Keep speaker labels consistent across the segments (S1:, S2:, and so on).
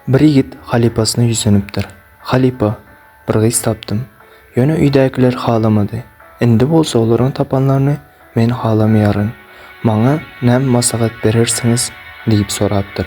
S1: Bir ýigit halypasyna ýüzlenipdir. Halypa, bir gyz tapdym. Ýöne öýdäkiler halamady. Indi bolsa olaryň tapanlaryny men halamaýaryn. Maňa näme maslahat berersiňiz? diýip sorapdyr.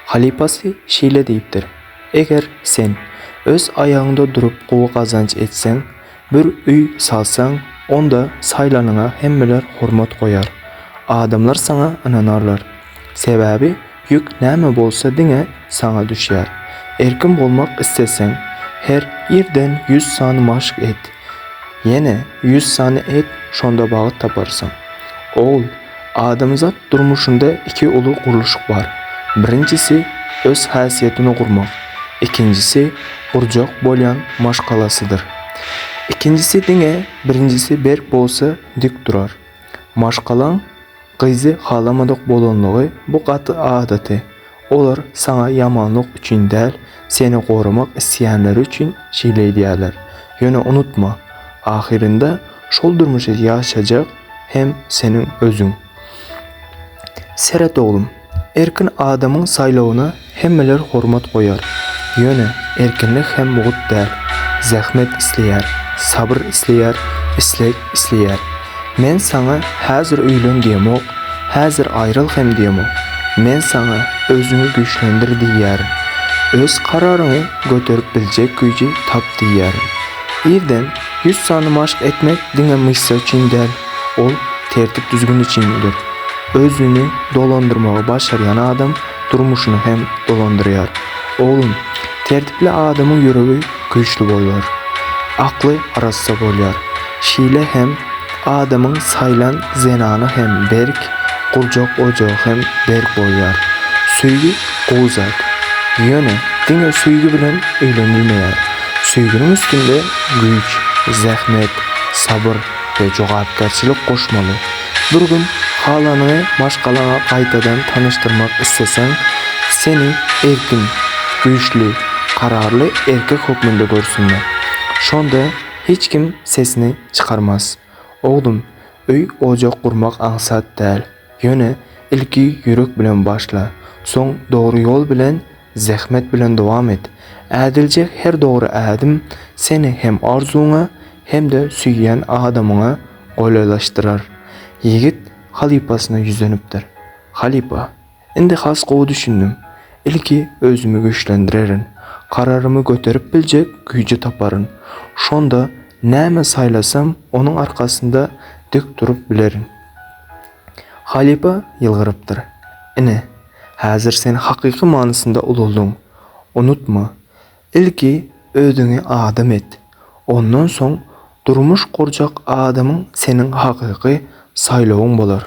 S1: Halypasy şeýle diýipdir, Eger sen öz aýagyňda durup gowy gazanç etseň, Bir öý salsaň, onda saýlanyňa hemmeler hormat goýar. Adamlar saňa ynanarlar. Sebäbi ýük näme bolsa diňe saňa düşýär. Erkin bolmak isleseň, her irden ýüz sany maşk et. Ýene ýüz sany et, şonda bagt taparsyň. Ogul! Adamzat durmuşynda iki uly gurluşyk bar. Birinjisi, öz häsiýetini gurmak, ikinjisi, gurjak bolýan maşgalasydyr. Ikinjisi diňe birinjisi berk bolsa dik durar. Maşgalaň gyzy halamadyk bolanlygy bu gaty adaty, Olar saňa ýamanlyk üçin däl, seni goramak isleýänleri üçin şeýle edýärler. Ýöne unutma, ahyrynda şol durmuşy ýaşajak hem seniň özüň. Seret oglum, erkin adamyň saýlawyna hemmeler hormat goýar. Ýöne erkinlik hem mugt däl. Zähmet isleýär, sabyr isleýär, isleg Isleýär. Men saňa häzir öýlen diýemok, häzir aýryl hem diýemok. Men saňa özüňi güýçlendir diýýärin. Öz kararyňy göterip biljek güýji tap diýýärin. Irden ýüz sany maşk etmek diňe myşsa üçin däl, ol tertip-düzgün üçindir. Özüni dolandyrmagy başarýan adam durmuşyny hem dolandyrýar. Oglum, tertipli adamyň ýüregi güýçli bolýar. Akly arassa bolýar. Şeýle hem adamyň saýlan zenany hem berk, gurjak ojagy hem berk bolýar. Söýgi gowy zat. Ýöne diňe söýgi bilen öýlenilmeýär. Söýginiň üstünde güýç, zähmet, sabyr we jogapkärçilik goşmaly. Bir gün halanyňy maşgalaňa gaýtadan tanyşdyrmak isleseň, seni erkin, güýçli, kararly erkek hökmünde görsünler. Şonda hiç kim sesini çykarmaz. Oglum, öý-ojak gurmak aňsat däl. Ýöne ilki ýürek bilen başla, soň dogry ýol bilen Zähmet bilen dowam et. Ädiljek her dogry ädim seni hem arzuwyňa hem-de söýýän adamyňa golaýlaşdyrar. Ýigit halypasyna ýüzenipdir. Halypa, indi has gowy düşündim. Ilki özümi güýçlendirerin. Kararymy göterip biljek güýji taparyn. Şonda näme saýlasam onuň arkasynda dik durup bilerin. Halypa ýylgyrypdyr. Ine, Häzir sen hakyky manysynda ulaldyň. Unutma, ilki özüňi adam et, ondan soň durmuş gurjak adamyň seniň hakyky saýlawyň bolar.